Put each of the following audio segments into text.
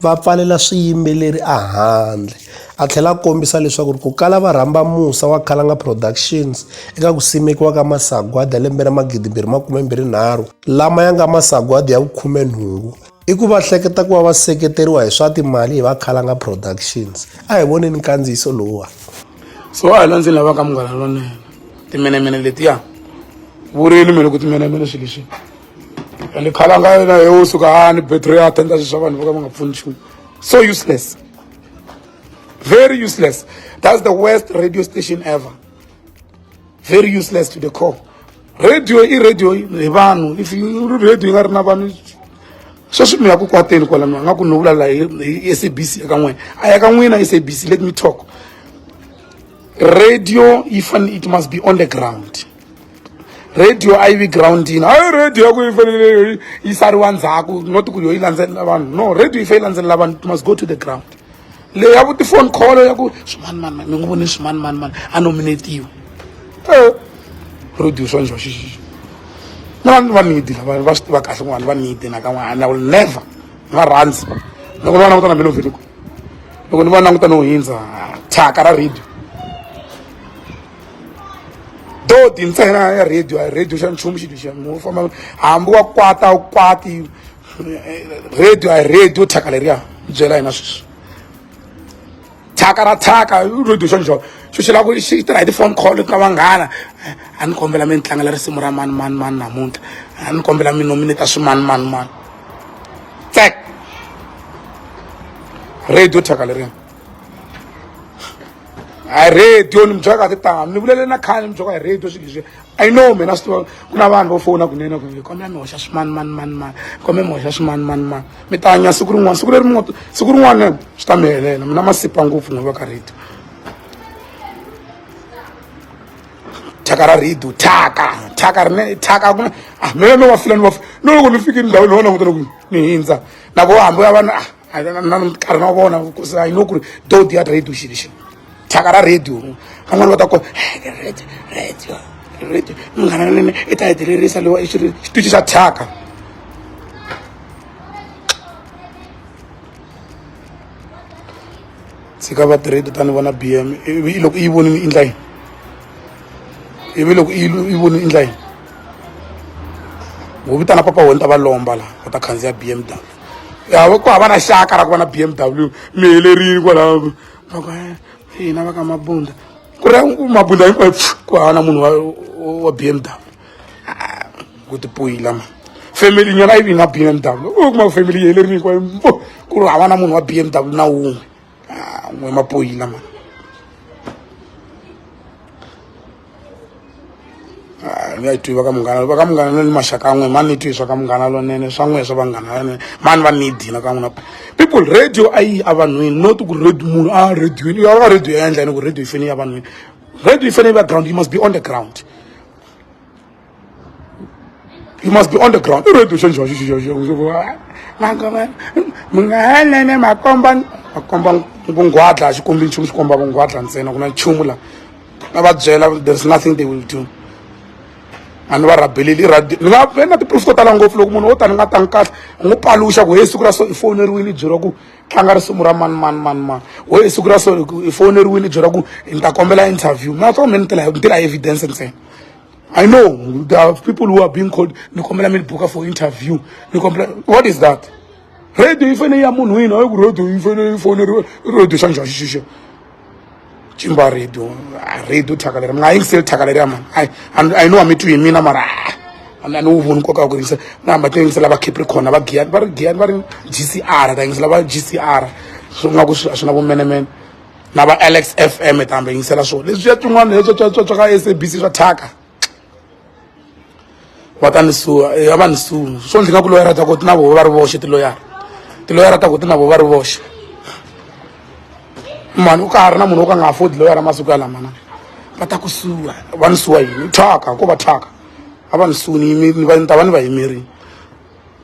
va pfalela swiyimbeleri ehandle. A tlhela a kombisa leswaku ku kala va rhamba musa wa Khalanga Productions eka ku simekiwa ka masagwadi ya lembe ra 2023 lama ya nga masagwadi ya vukhumenhungu i ku va hleketa ku va va seketeriwa hi swa timali hi va Khalanga Productions. A hi voneni nkandziyiso lowuwa. So wa hina ndzi lavaka munghana lonene timenemene letiya vurimi mi loko timenemene swilo leswi. and khala nga yena yo suka ani battery ya tenda swa vanhu voka va nga pfuni nchumu so useless very useless that's the worst radio station ever very useless to the core radio i radio hi vanhu if radio yi nga ri na vanhu sweswi mi ya ku kwateni kwala mi nga ku no vulala hi sabc eka n'wina a ya ka n'wina sabc let me talk radio yi fanele it must be on the ground radio a yi vi groundini hayi radio ya ku yi fanele yi sariwa ndzhaku not ku yo yi landzelela vanhu no radio yi fanele yi landzelela vanhu it must go to the ground leyi ya ku tifoni call ya ku swimanimani mi n'wi voni swimanimani a nominatiwa e eh, radio swa njho xixixi na vanhu va nidi lava va swi tiva kahle kun'wana va nidi nakan'wana i will never ni va rhandzi loko ni va langutana mi loveli kwihi loko ni va langutana ho hindza thyaka ra radio dodi ntsena ya radio a radio xa nchumu xilo xa mu famba hambi wa kwata wu kwati radio a radio thyaka leriya byela hina sweswi thyaka ra thyaka radio xa njholo xo xi lava ku xi tirha hi ti-phone call ka vanghana a ni kombela mi ni tlangela risimu ra mani mani mani namuntlha a ni kombela mi nomineta swi mani mani mani tsek radio thyaka leriya hi radio ni mi byela kahle tanga ni vulele na khale ni mi byela hi radio swilo leswi i know mina swi tiva ku na vanhu vo fona kunene ku kombe mi hoxa swimani mani mani mani kombe mi hoxa swimani mani mani mi ta hanya siku rin'wana siku leri mi siku rin'wana swi ta mi helela mina masipa ngopfu n'wi va ka radio thyaka ra radio thyaka thyaka rine thyaka ku ah mina no wa fila ni wa no loko ni fike ndhawini ho langutela ku ni hindza na vo hambi ya vana ah na nkarhi na vona because i know ku ri do dia radio xilo xilo thyaka ra radio van'wana va ta ko radio radio radio munghana nene i ta hetelerisa lewa i xitichi xa thyaka tshika va tirhedi ta ni vona b m ivi loko i yi vonini i ndla yini ivi loko i yi vonini i ndla yini wo vitana papa wena ta va lomba laha va ta khandziya b m down ya ku hava na xaka ra ku va na b m w mi helerile kwalaho hina va ka mabunda ku ri mabunda hinkwayo ku hava na munhu wa b m w ah, ku tipoyila ma family nyana yi vi na b m w u kuma family yi helerile hinkwayo ku ri hava na munhu wa b m w na wun'we ah, n'we mapoyila mani ah, ni nga yi twi va ka munghana va ka munghana lone maxaka an'we mani ni twi swa ka munghana lonene swa n'we swa vanghana vanene mani va ni dina ka n'wina people radio a yi a vanhwini not ku radio munhu a ah, radioini u ya ka radio ya endla yini ku radio yi fanele ya vanhwini radio yi fanele yi va ground you must be on the ground You must be on the ground. Ready to change your Mangoma. Mungalene makomba makomba ngungwadla a xi kombi nchumu xi komba vungwadla ntsena ku na nchumu la na va byela there's nothing they will do a ni va rabheleli ni nga ve na tiproof to tala ngopfu loko munhu wo tani nga tangi kahle u n'wi paluxa ku he siku ra so i fowuneriwile i byeriwa ku tlanga risimu ra mani mani mani mani ho hi siku ra so i fowuneriwile i byeriwa ku ni ta kombela interview mina to mi ni tela ni tela evidence ntsena I know there are people who are being called nikombela mi book for interview nikombela what is that radio ifene ya munhu ina ku radio ifene ifone radio xanja xixixo chimba radio ah, radio thakalera mina ayingiseli thakalera mani i know amitwi hi mina mara ah, ani wu voni nkoka wa ku yingisa na hamba to yingisela va capricorn va giyani va ri giyani va ri gcr ta yingisela va gcr swi nga ku swi na vumenemene na va alex f m ta hambi yingisela swo leswiya tin'wana leswatswatswa ka s a b c swa thyaka va ta ni suwa ya va ni suwa swo ndzi nga ku loyara ta ku ti na voho va ri voxe tiloyara tiloyara ta ku ti na voho va ri voxe mani u ka ha ri na munhu wo ka nga afodi loyara masiku ya lamana va ta ku suwa va ni suwa yini thyaka ko va thyaka a va ni suwa ni ni va ni ta va ni va yimerile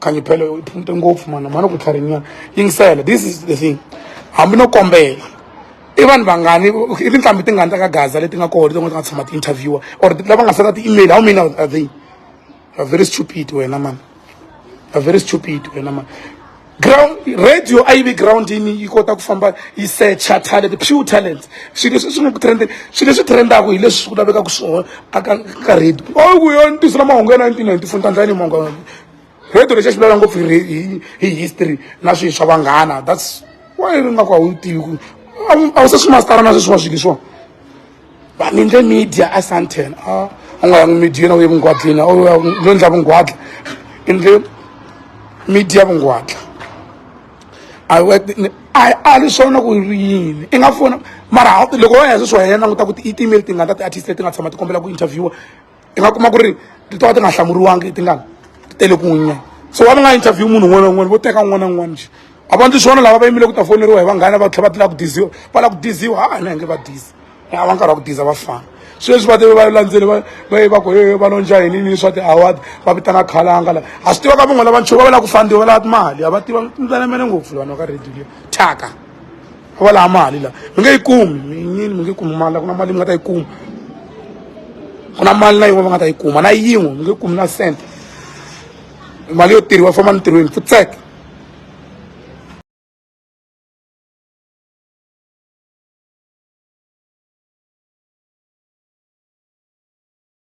khanyi phele u phunte ngopfu mana mani ku tlharinyana yingisela this is the thing hambi no kombela i vanhu vangani i tinqambi tingani ta ka gaza leti nga kona leti nga ti nga tshama ti-interviewer or lava nga sala ti-email how many are they are very stupid wena mani are very stupid wena mani ground radio a yi vi groundini yi kota ku famba yi secha talent pure talent swilo leswi swi nga ku trendeni swilo leswi trendaka hi leswi ku lavekaka swona a ka ka radio o ku yo ntiso la mahungu ya nineteen ninety four tandlani mahungu Rito lexi a xi vulavula ngopfu hi hi hi history na swilo swa vanghana that's why ri nga ku a wu tivi ku a wu se swi mastara na sweswiwa swilo leswiwa va mi endle media a santen a u nga yangi media na u ye vungwadleni a lo endla vungwadla endle media vungwadla a a ri swona ku ri yini i nga fona mara loko wa ya sweswi wa yena languta ku ti-email tingani ta ti-artist leti nga tshama ti kombela ku interviewa i nga kuma ku ri ti to va ti nga hlamuriwangi i tingani ti tele ku n'winya so wa va nga interview munhu un'wana na un'wana vo teka un'wana na un'wana njhe a va ndzi swona lava va yimile ku ta foneriwa hi vanghana va tlhela va tlula ku diziwa va lava ku diziwa ha na nge va dizi a va nkarhi wa ku diza va fana sweswi va teve va landzeli va va ye va ku hehe va lonja yini ni swa ti-award va vitana khalanga la a swi tiva ka van'wana lava nchuva va lava ku fandiwa va lava timali a va tiva ndzanemene ngopfu vanhu va ka radio leyi thyaka va va laha mali la mi nge yi kumi minyini mi nge kumi mali la ku na mali mi nga ta yi kuma ku na mali na yin'we va nga ta yi kuma na yin'we mi nge kumi na cent mali yo tirhiwa famba mintirhweni futseke